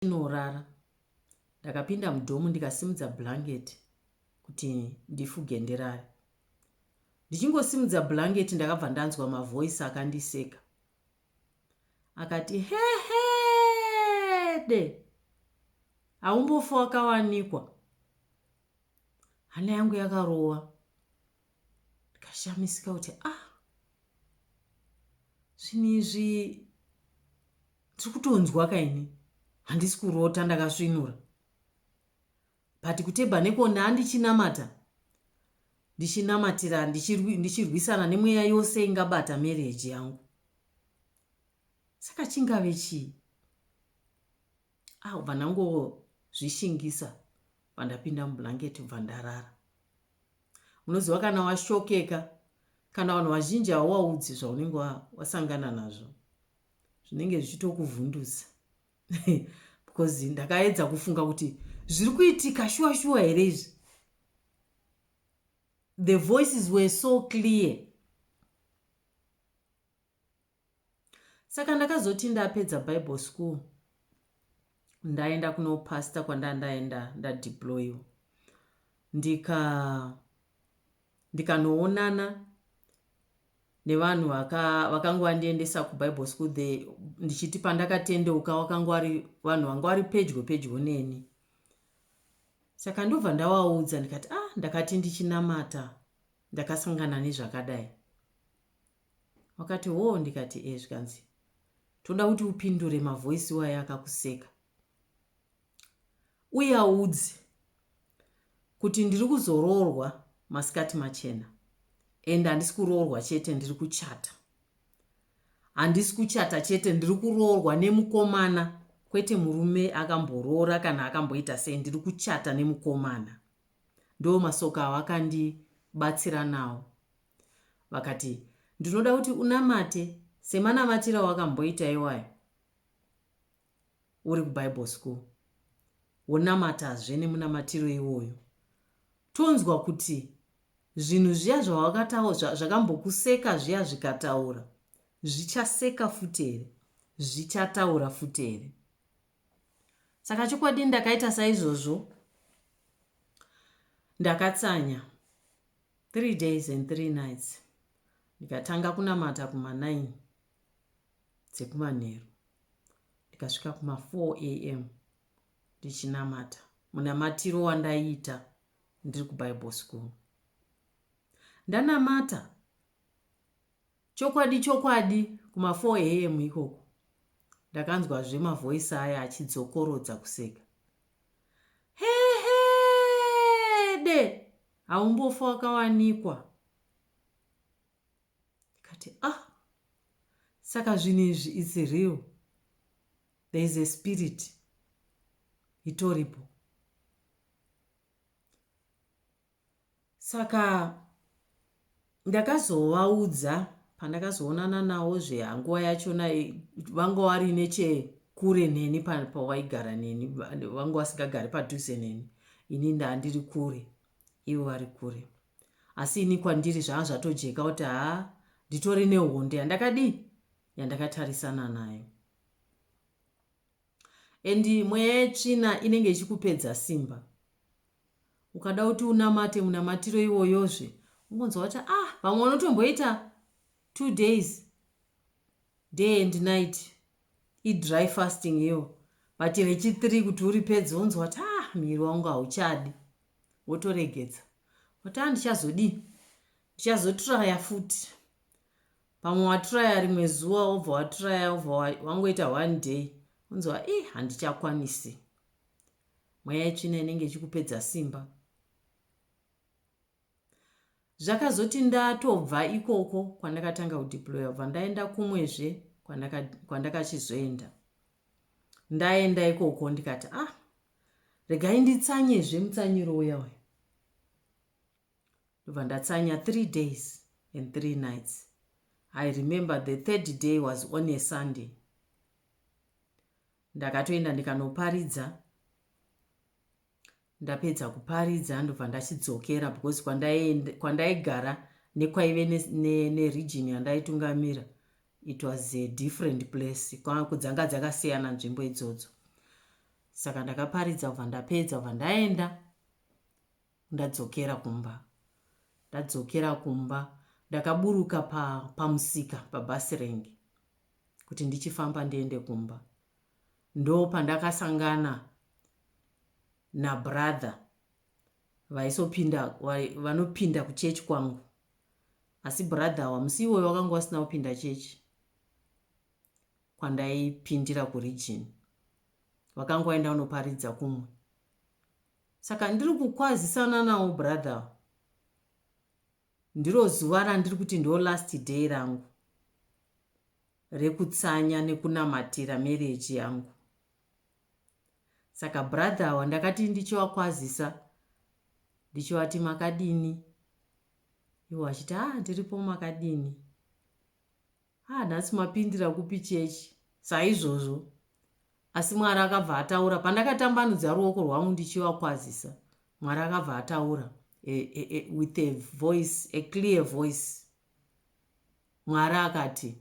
tinorara. Ndakapinda mudhomu ndikasimudza blanketi kuti ndifuge ndirare. Ndichingosimudza blanketi ndakabva ndanzwa mavoice akandiseka. Akati hehede haumbofa wakawanikwa. Hana yangu yakarova. ndikashamisika kuti ah zvinhu izvi tiri kutonzwa kaini handisi kurota ndakasvinura but kutebha nekona andichinamata ndichinamatira ndichirwisana nemweya yose ingabata mereji yangu saka chingave chii ah ubva ndangozvishingisa vandapinda mublanketi ubva ndarara munoziva kana washokeka kana vanhu vazhinji hauwaudzi zvaunenge wasangana nazvo zvinenge zvichitokuvhundusa because ndakaedza kufunga kuti zviri kuitika shuwa shuwa here izvi the voices were so clear saka ndakazoti ndapedza bible school ndaenda kunopasta kwandandaenda ndadeployiwa ndika ndikanoonana nevanhu vakanga vandiendesa kubible school the ndichiti pandakatendeuka vakanga vari vanhu vanga vari pedyo pedyo neni saka ndobva ndavaudza ndikati ah ndakati ndichinamata ndakasangana nezvakadai Vakati hoo ndikati eeh zvikanzi toda kuti upindure mavoice iwaya akakuseka uye audze kuti ndiri kuzoroorwa masikati machena and handisi kuroorwa chete ndiri kuchata handisi kuchata chete ndiri kuroorwa nemukomana kwete murume akamboroora kana akamboita sei ndiri kuchata nemukomana ndo masoka awo akandibatsira nawo Vakati, Ndinoda kuti unamate semanamatiro awakamboita iwayo uri kuBible school. Wonamatazve nemunamatiro iwoyo. Tonzwa kuti zvinhu zviya zvawakataura zvakambokuseka zviya zvikataura zvichaseka futi here zvichataura futi here saka chokwadi ndakaita saizvozvo ndakatsanya Three days and three nights ndikatanga kunamata kuma nine dzekumanheru ndikasvika kuma four am ndichinamata munamatiro wandaiita ndiri kubible school ndanamata Chokwadi chokwadi kuma 4am ikoko ndakanzwazve mavoice aya achidzokorodza kuseka. Hehede! Haumbofa wakawanikwa. Ndikati ah saka zvinhu izvi it's real. There is a spirit itoripo. Saka ndakazovaudza pandakazoonana navo zve hanguva yachona vanga vari nechekure neni pavaigara neni vanga vasingagari padhuze neni ini ndandiri kure ivo vari kure asi ini kwandiri zvaa zvatojeka kuti haa nditori nehonde yandakadii yandakatarisana nayo and mweya yetsvina inenge ichikupedza simba ukada kuti unamate munamatiro iwoyozve ungonzwa kuti ah vamwe unotomboita two days day and night idry fasting iyo but rechithree kuti uripedze unzwa kuti ah miri wangu hauchadi wotoregedza kuti andichazodii ah, ndichazotraya futi pamwe watraya rimwe zuva wobva watraya wobva wangoita one day unzwa i eh, handichakwanisi mweya yetsvina inenge ichikupedza simba zvakazoti ndatobva ikoko kwandakatanga kudeploya bva ndaenda kumwezve kwandakachizoenda kwandaka ndaenda ikoko ndikati ah regai nditsanyezve mutsanyiro uya uya ndobva ndatsanya three days and three nights i remember the third day was on a sunday ndakatoenda ndikanoparidza ndapedza kuparidza ndobva ndachidzokera because kwandaigara nekwaive neregion yandaitungamira it was a different place kwakudzanga dzakasiyana nzvimbo idzodzo saka ndakaparidza kubva ndapedza kubva ndaenda Ndadzokera kumba. Ndadzokera kumba ndakaburuka pa, pamusika pabus rank kuti ndichifamba ndiende kumba. Ndo pandakasangana nabrother vaisopinda vanopinda kuchechi kwangu asi brother awa musi iwoyo wakanga wasina kupinda chechi kwandaipindira kuregion vakanga vaenda vanoparidza kumwe Saka ndiri kukwazisana nawo brother ndiro zuva randiri kuti ndo last day rangu rekutsanya nekunamatira marriage yangu saka brother awa ndakati ndichiwakwazisa ndichivati makadini iwo achiti a ah, ndiripo makadini Haa nhasi mapindira kupi church saizvozvo asi Mwari akabva ataura pandakatambanudza ruoko rwangu ndichivakwazisa Mwari akabva ataura e, e, e, with a voice a clear voice Mwari akati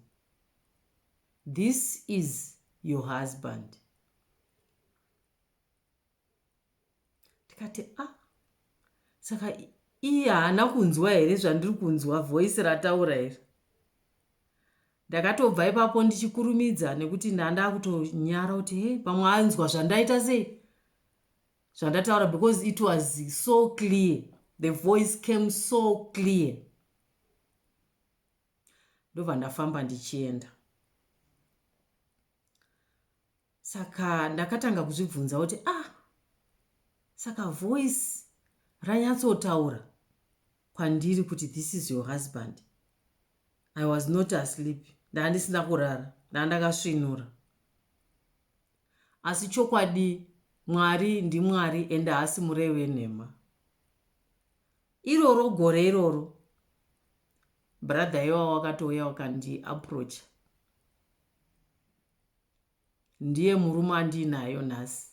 this is your husband ndikati a ah, saka iye haana kunzwa here zvandiri kunzwa voice rataura here ndakatobva ipapo ndichikurumidza nekuti ndanda kutonyara kuti he pamwe anzwa zvandaita sei zvandataura because it was so clear the voice came so clear ndobva ndafamba ndichienda Saka ndakatanga kuzvibvunza kuti ah saka voice ranyatsotaura kwandiri kuti this is your husband. I was not asleep. Ndandisina kurara. Ndandakasvinura. Asi chokwadi Mwari ndiMwari ende haasi murevi wenhema. Iroro gore iroro brother iwawa wakatouya wakandi approacha ndiye murume andiinayo nhasi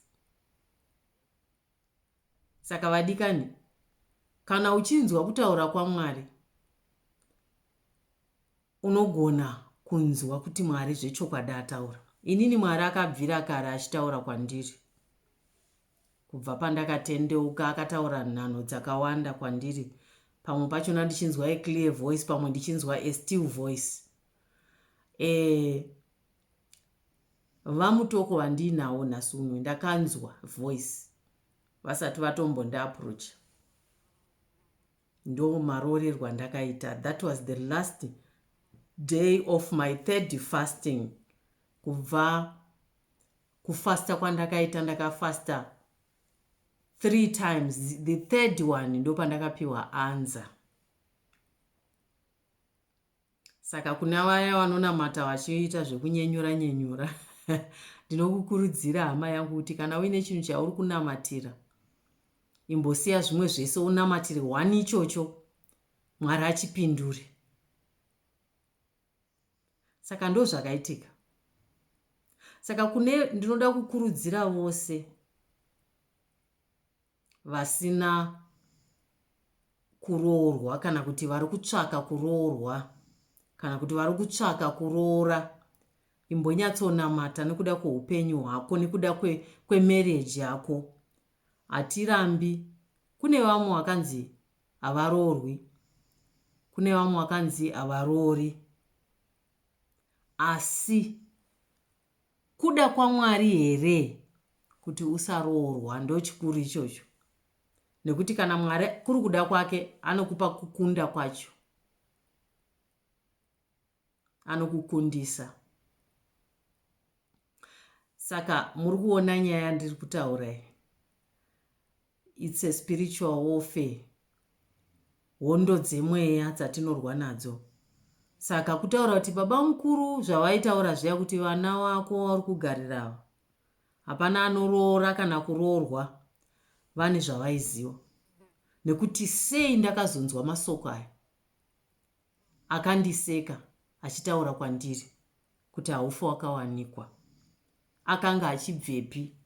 saka vadikani kana uchinzwa kutaura kwamwari unogona kunzwa kuti mwari zvechokwadi ataura inini mwari akabvira kare achitaura kwandiri Kubva pandakatendeuka akataura nhanho dzakawanda kwandiri pamwe pachona ndichinzwa a clear voice pamwe ndichinzwa a still voice eh vamutoko vandiinawo nhasi uno ndakanzwa voice vasati vatombondiaproach ndo maroorerwa ndakaita that was the last day of my third fasting kubva kufasta kwandakaita ndakafasta three times the third one ndopandakapiwa anza saka kuna vaya vanonamata vachiita zvekunyenyura nyenyura ndinokukurudzira hama yangu kuti kana uine chinhu chauri kunamatira imbosiya zvimwe zvese unamatire one ichocho mwari achipindure saka ndozvakaitika saka kune ndinoda kukurudzira vose vasina kuroorwa kana kuti vari kutsvaka kuroorwa kana kuti vari kutsvaka kuroora imbonyatsonamata nekuda kweupenyu hwako nekuda kwemarriage kwe yako hatirambi kune vamwe vakanzi havaroorwi kune vamwe vakanzi havaroori asi kuda kwamwari here kuti usaroorwa ndochikuru ichocho nekuti kana mwari kuri kuda kwake anokupa kukunda kwacho anokukundisa saka muri kuona nyaya ndiri kutaura iyi It's a spiritual warfare. Hondo dzemweya dzatinorwa nadzo. Saka kutaura kuti baba mukuru zvavaitaura zviya kuti vana wako wauri kugarira ava. Hapana anoroora kana kuroorwa vane zvavaiziva. Nekuti sei ndakazonzwa masoko aya. Akandiseka achitaura kwandiri kuti haufe wakawanikwa. Akanga achibvepi?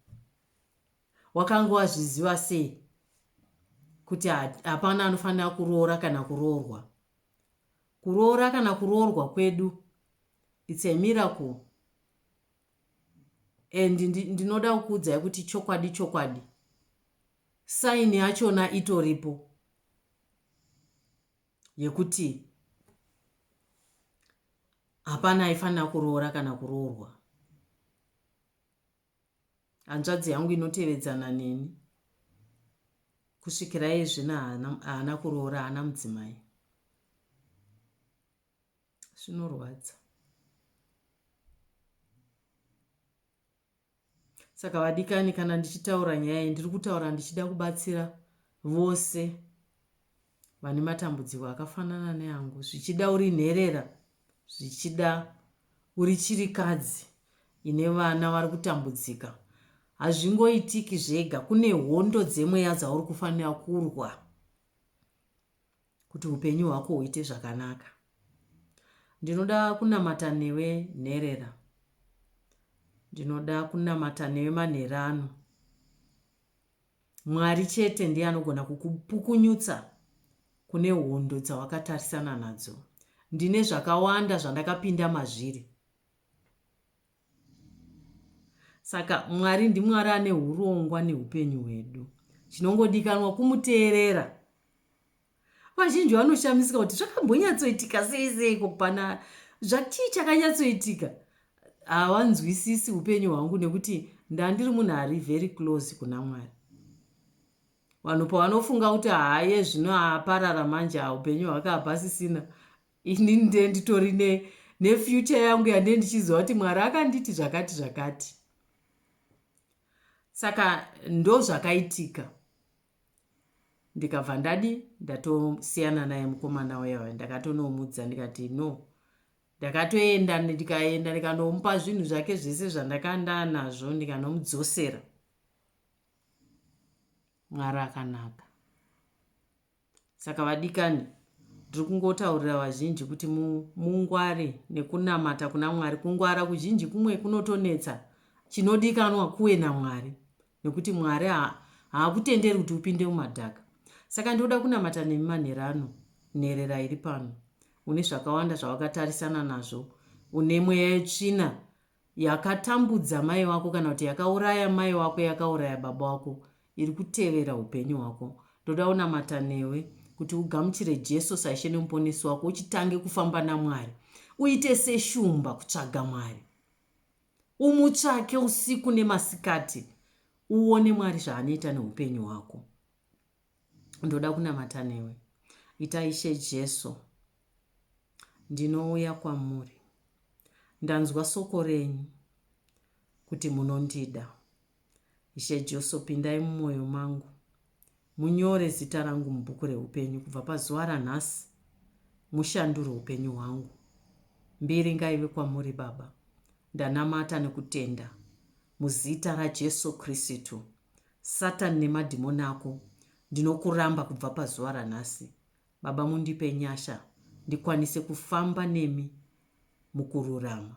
Wakanga wazviziva sei kuti hapana anofanira kuroora kana kuroorwa? Kuroora kana kuroorwa kwedu it's a miracle and ndinoda kukuudzai kuti chokwadi chokwadi saini yachona itoripo yekuti hapana aifanira kuroora kana kuroorwa hanzvadzi yangu inotevedzana neni kusvikira iye zvino haana kuroora haana mudzimai zvinorwadza saka vadikani kana ndichitaura nyaya iyi ndiri kutaura ndichida kubatsira vose vane matambudziko akafanana neangu zvichida uri nherera zvichida uri chirikadzi ine vana vari kutambudzika hazvingoitiki zvega kune hondo dzemweya dzauri kufanira kurwa kuti upenyu hwako huite zvakanaka ndinoda kunamata newe nherera ndinoda kunamata newe manherano Mwari chete ndiye anogona kukupukunyutsa kune hondo dzawakatarisana nadzo. Ndine zvakawanda zvandakapinda mazviri. Saka Mwari ndiMwari ane urongwa neupenyu hwedu. Chinongodikanwa kumuteerera vazhinji vanoshamisika kuti zvakambonyatsoitika sei seiko kupana zvatii chakanyatsoitika hawanzwisisi upenyu hwangu nekuti ndandiri munhu ari very close kuna mwari vanhu pavanofunga kuti haye zvino aparara manje upenyu hwake hapasisina ini nde nditori ne nefuture yangu yande ndichiziva kuti mwari akanditi zvakati zvakati saka ndozvakaitika ndikabva ndadi ndatosiyana naye mukomana uya uya ndakatonomudza ndikati no ndakatoenda ndikaenda ndikanomupa zvinhu zvake zvese zvandakandanazvo ndikanomudzosera mwari akanaka saka vadikani ndiri kungotaurira vazhinji kuti mungware nekunamata kuna mwari kungwara kuzhinji kumwe kunotonetsa chinodikanwa kuwe namwari nekuti Mwari haakutenderi kuti upinde mumadhaka. Saka ndinoda kunamata nemi manheru ano, nherera iri pano. Une zvakawanda zvawakatarisana nazvo. Une mweya yetsvina yakatambudza mai wako kana kuti yakauraya mai wako yakauraya baba wako iri kutevera upenyu hwako ndoda unamata newe kuti ugamuchire jesu saishe nemuponesi wako uchitange kufamba namwari uite seshumba kutsvaga mwari Umutsvake usiku nemasikati uone Mwari zvaanoita neupenyu hwako. Ndoda kunamata newe. Ita Ishe Jesu, ndinouya kwamuri. Ndanzwa soko renyu kuti munondida. Ishe Joso, pindai mumoyo mangu. Munyore zita rangu mubhuku rehupenyu kubva pazuva ranhasi. Mushandure hupenyu hwangu. Mbiri ngaive kwamuri Baba. Ndanamata nekutenda. Muzita raJeso Kristu. Satan nemadhimoni ako ndinokuramba kubva pazuva ranhasi. Baba mundipe nyasha ndikwanise kufamba nemi mukururama.